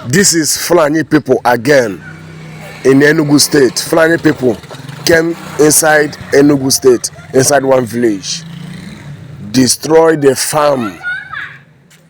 This is Fulani people again in Enugu State. Fulani people came inside Enugu State, inside one village, destroyed the farm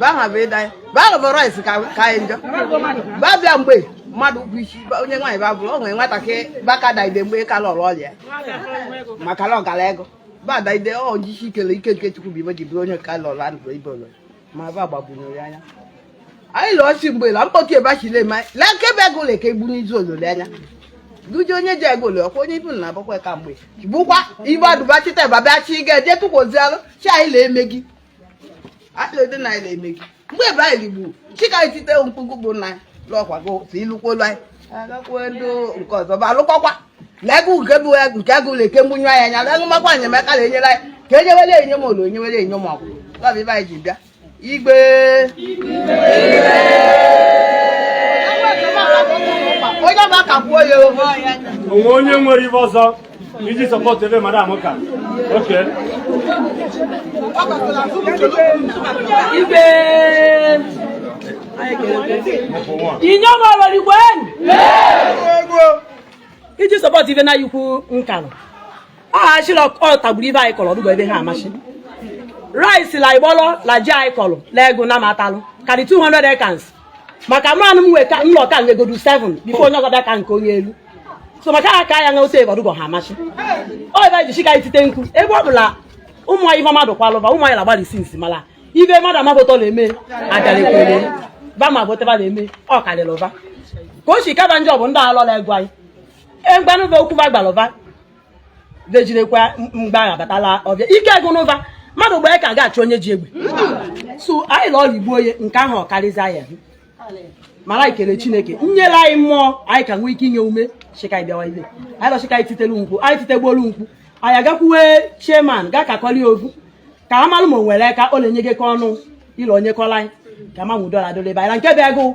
baha bụ ịda baha bụ rice ka anyị njọ ba bịa mgbe mmadụ bụ isi onye nwaanyị ba bụrụ o nwere nwatakịrị ba ka daide mgbe ka lọrọ ọrịa maka na ọ gara ego ba daide ọ jisi ikele ike nke chukwu bụ ibe ji bụrụ onye ka lọrọ anụ ibe ụlọ ma ba gbagburu ya anya anyị lụọ si mgbe la mkpọtụ ebe achile ma lee ka ebe agụlụ ka egburu izu olole anya duji onye ji ego ole ọkwa onye ibu na abụkwa ka mgbe bụkwa ibe adụbachita ebe abịa chi ga eje tụkwozialụ chi anyị la eme gị atụlede na anyị na-eme gị mgbe ebe anyị ligbu sị ka e tite mkpu bụ na lọkwa gị si ịlụkwolu anyị agakwuo ndị nke ọzọ bụ alụkwakwa lee gị nke bụ nke agụlụ eke mgbunye anyị anya lee makwa enyemaka na enyere anyị ka enyewere enye m ụlọ enyewere enye m ọgwụ lọbụ ibe anyị ji bịa igwe onye ọba ka kwuo ya o nwee onye nwere ibe ọzọ Iji support ibe madam ka. Okay. Igwe. Inyom ọlọrigwen. Iji support ibe na ikwu nkanụ. Aha achịla ọ tagburu ibe anyị kọrọ ọ dụgo ebe ha amasị. Rice la igbọlọ la ji anyị kọrọ la ego na matalụ karị 200 acres. maka mmanụ m nweta nlọ ka nwegodu 7 before onye ọzọ bịa ka nke onye elu so maka ha ka ya na ose ebarugo ha amasị ọ ebe ji sị ka e tite mkpu ebe ọ bụla ụmụ anyị ife mmadụ kwalụba ụmụ anyị na-agbalị isi nsi mala ibe mmadụ amabụtọ na-eme adalekwere ba ma bụtaba na-eme ọ karịrị ba ka o si kaba njọ bụ ndị alọla egwu anyị egbanụba okwu ba gbalụba vejinekwa mgbe ahụ abata la ọvịa ike gụnụva mmadụ gba aka ga-achụ onye ji egbe so anyị lụọ igbo onye nke ahụ ọ karịzị anyị mala ikele chineke nyela anyị mmụọ anyị ka nwee ike inye ume sị ka bịawa ibe anyị lọ sị ka anyị titelu mkpu anyị titegbolu mkpu anyị agakwuwe chairman ga kakọli ovu ka amalụ ma o nwere ka ọ na-enye gị ka ọnụ ịlụ onye kọla anyị ka ma nwudo ala dole ebe anyị na nke bịa gụ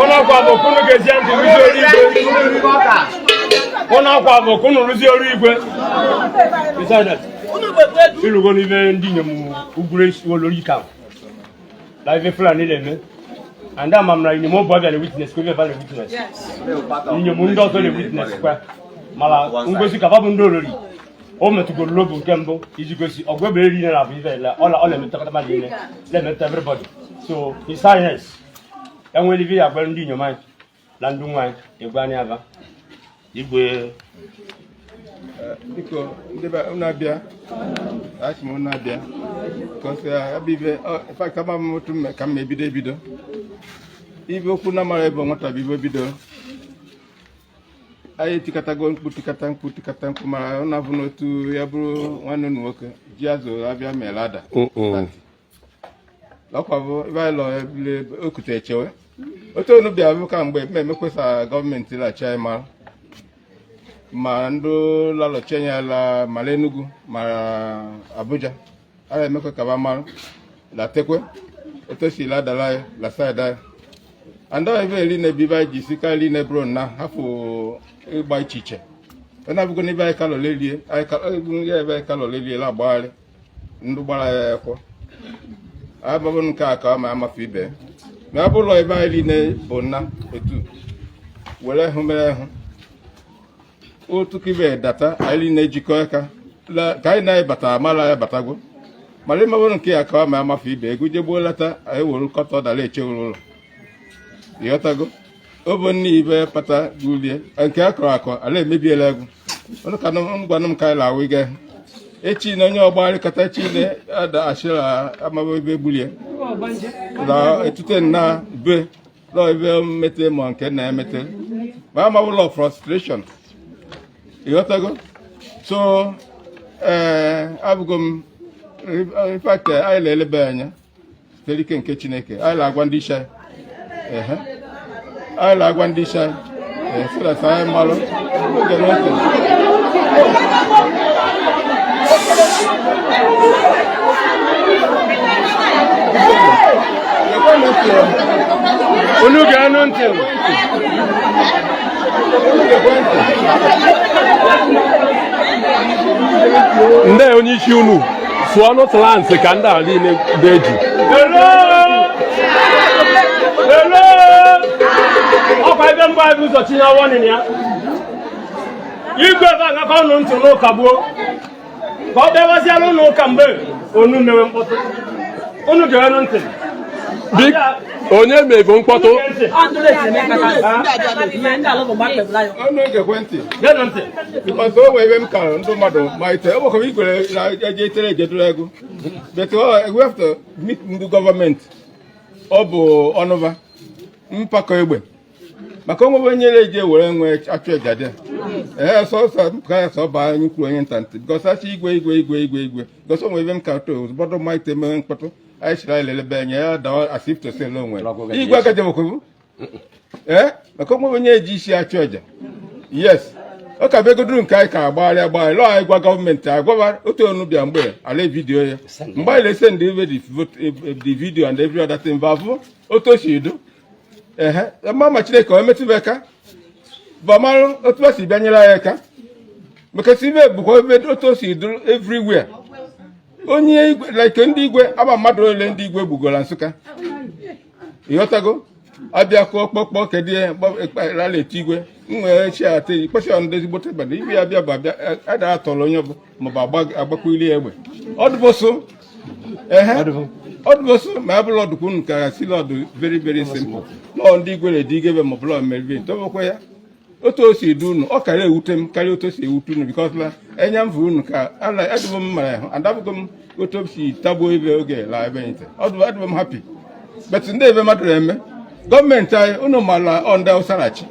ụlọ akwa bụ ka unu gezie ntị rụzie ọrụ igwe ụlọ akwa bụ ka unu rụzie ọrụ igwe ị lụgonụ ibe ndị inyom ugwuru olori ka na ibe fulani na-eme and ama m na inyom ọbụ abịa na witness kwa ibe ba na witness inyom ndị ọzọ na witness kwa mana ngosi ka ba bụ ndị olori o metụgoro n'obi nke mbụ iji gosi ọgụ ebe eri na abụ ibe ọla ọ na-emetụtakọta mmadụ niile na-emetụta everybody so his highness enwere ibe ya gwara ndị inyom anyị na ndị nwaanyị egwu anyị aba igwe biko ndị be unu abịa achị m unu abịa kọsị ebe ibe fact ama m otu mme ka m ebido ebido ibe okwu na mala ebe nwata bụ ibe bido anyị etikatago mkpu tikata mkpu tikata mkpu mala ụna bụ n'otu ya bụrụ nwanne unu nwoke ji azụ abịa mere ada ọkwa bụ ebe anyị lọ ebule okute echewe otu onu bịa bụ ka mgbe mme emekwesa gọọmenti la-achị anyị mara ma ndị la-alọchi anya la mara Enugu ma Abuja a na-emekwa ka ba mara latekwe otu o si la-adala anyị la side anyị andọ ebe eri na ebibe anyị ji si ka eri na ebro na hafụ ịgba iche iche ọ na-abụgo n'ebe anyị kalọlelie anyị kalọ- ya ebe anyị kalọlelie la-agbagharị ndị gbara ya ekwo abụghị nke a ka ọ ma amafe ibe ma ọ bụrụ ebe anyị niile bụ nna otu were hụ mere hụ otu kibe data anyị niile jikọ aka ka anyị na-ebata mara ya batago mara ịmabụrụ nke ya ka ọ ma amafe ibe ego jegbuo lata anyị were nkọta dara echewuru ụlọ ịghọtago ọ bụ nne ibe kpata gulie nke a kọrọ akọ ala emebiela egwu ọnụ ka ngwanụ m ka anyị na-awụ ịga echi na onye ọgba arịkọta chi na ada achịra amaba ebe gbulie na etute na be na ebe mmete ma nke na-emete ma amaghị ụlọ frustration ịghọtago so ee abụgo m in fact anyị na-elebe anya site ike nke Chineke anyị na-agwa ndị isi anyị anyị na-agwa ndị isi anyị ee so that anyị malụ oge n'oke unu ga-anụ ntị ndị onye isi unu sụọ n'otu lansị ka ndị a niile na-eji ọkwa ebe mgbe anyị ụzọ tinye ọwọnị ya igwe ebe agakọ ọnụ ntị n'ụka gbuo ka ọ bịawaziela ụlọ ụka mgbe onu mewe mkpọtụ unu ga-anụ ntị onye mebe mkpọtụ maka o nwe ebe m kara ndị mmadụ malite enwekwara ikwere na eje itere ejedoro ego but we have to meet ndị gọọmenti ọ bụ ọnụva mpakọ egbe maka onwebe onye na-eji ewere onwe achụ eja ee sọsọ ka ya sọ baa anyị kwuru onye nta ntị because achọ igwe igwe igwe igwe igwe because o nwe ebe m ka to ụbọdụ malite mere mkpọtụ anyị chiri anyị lelebe anya ya dawa as if to say o nwe igwe aka jemokwu ee maka o nwe onye eji isi achụ aja yes ọ ka begoduru nke anyị ka agbagharị agbagharị lọọ anyị gwa gọọmenti agwa ba otu onu bịa mgbe a la-avidiyo ya mgbe anyị na-esendị the video and every other thing bụ abụ otu o si do ehe ma ma chineke onye metụba aka bụ ọmarụ otu o si bịa nyere anyị aka maka si ibe bụkwa ebe otu o si dụrụ everywhere onye igwe like ndị igwe aba mmadụ ole ndị igwe gbugoro na nsụka ịghọtago abịa kụọ kpọkpọ kedu ihe rala etu igwe m nwere chi ata ikpesi ọnụ ezigbote bana ibe ya bịa bụ abịa a- a dara atọrọ onye bụ maọbụ agbakwuli egbe ọdụbụsụ ehe ọdụbụsụ ma abụrụ ọdụkwu unu ka sị la ọ dụ very very simple lọọ ndị igwe na-edi igebe maọbụ lọọ meriri tobekwa ya otu o si edu unu ọ kara ewute m karịa otu o si ewute unu because na enya m unu ka adịbụ m mara ahụ adabụgo m otu si tagbuo ibe oge la ebe nte adụbụ m happy but ndị ebe mmadụ na-eme gọọmenti anyị unu mara ọnda ụsarachi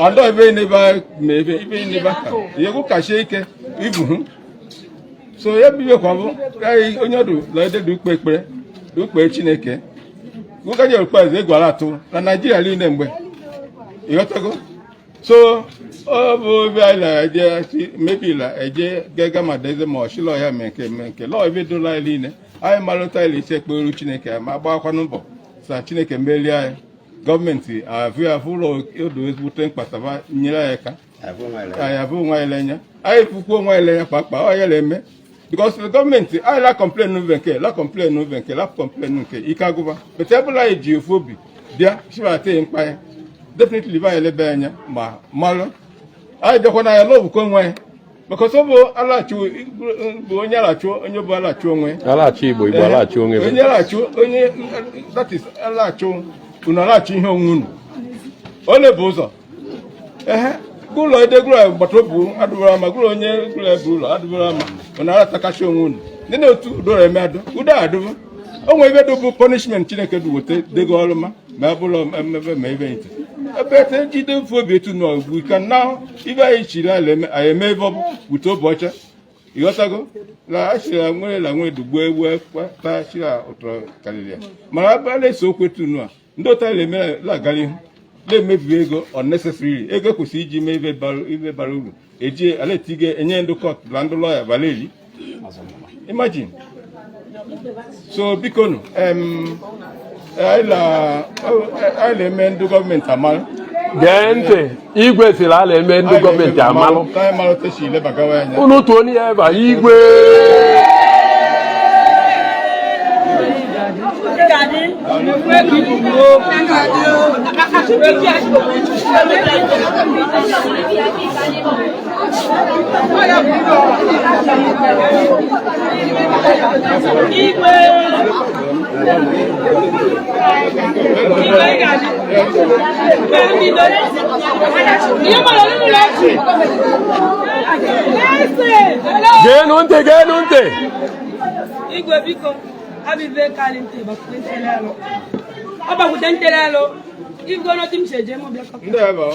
ọndọ ebe n'ebe ma ebe ibe n'ebe aka yegwu kachie ike ibu hụ so ya bụ ibe kwa bụ onye ọdụ la ededu ukpe ekpere ukpe chineke ụka nyere ukpe eze egwara atụ na naijiria niile mgbe ịghọtago so ọ bụ ebe anyị na-eje si mebila eje gaga ma deze ma ọchịlọ ya mee nke mee nke lọọ ebe dola anyị niile anyị malụta ile ise ekperu chineke ma gbakwanụ mbọ sa chineke merie anyị gọọmenti avụ ya avụ ụlọ odo ezigbote mkpataba nyere anyị aka anyị avụ onwe anyị l'enya anyị fụkwa onwe anyị l'enya kpakpa ọ ya na-eme because the gọọmenti anyị la complain n'ube nke la complain n'ube nke la complain nke ike agụba but ebe ọbụla anyị ji ofu obi bịa chibata ya mkpa ya definitely be anyị elebe anya ma malụ anyị bịakwa na ya lọbụ ka onwe ya because ọ bụ alachi bụ onye alachi onye bụ alachi onwe alachi igbo igbo alachi onwe onye alachi onye that is alachi unu alachi ihe onwe unu ole bụ ụzọ ehe gụlọ edegụlọ gbata obu adụbara ama gụlọ onye gụlọ ebe ụlọ adụbara ama ọ na-aratakachi onwe unu ndị na-otu udoro eme adụ udo adụbụ o nwere ebe dụbụ punishment chineke dị weta dego ọrụ ma ma ebe ụlọ mmebe ma ebe nte ebe ete jide mfe obi etu na ugbu ka na ibe anyị chiri ala eme anyị eme ebe ọ bụ wute obi ọcha ịghọtago na achịra nwere na nwere dugbuo egbu ekwe taa chira ụtọ karịrị ya mana ebe a na-ese okwu etu nu a ndị otu anyị na-agara ihu na-emebi ego unnecessarily ego kwesịrị iji mee ihe bara uru eji ala etiga enye ndị kọt na ndị lọya bara eri imagine so bikonu anyị na-eme ndị gọọmenti amalụ gee ntị igwe siri ala eme ndị gọọmenti amalụ unu tụọ onye ya ebe a igwe geenụ ntị geenụ ntị igwe biko ọ bụ ife kalị nte bakwute nte n'ọnụ ọ bakwute nte n'ọnụ igwe n'otu m si eje m bịa ndị ebe ọ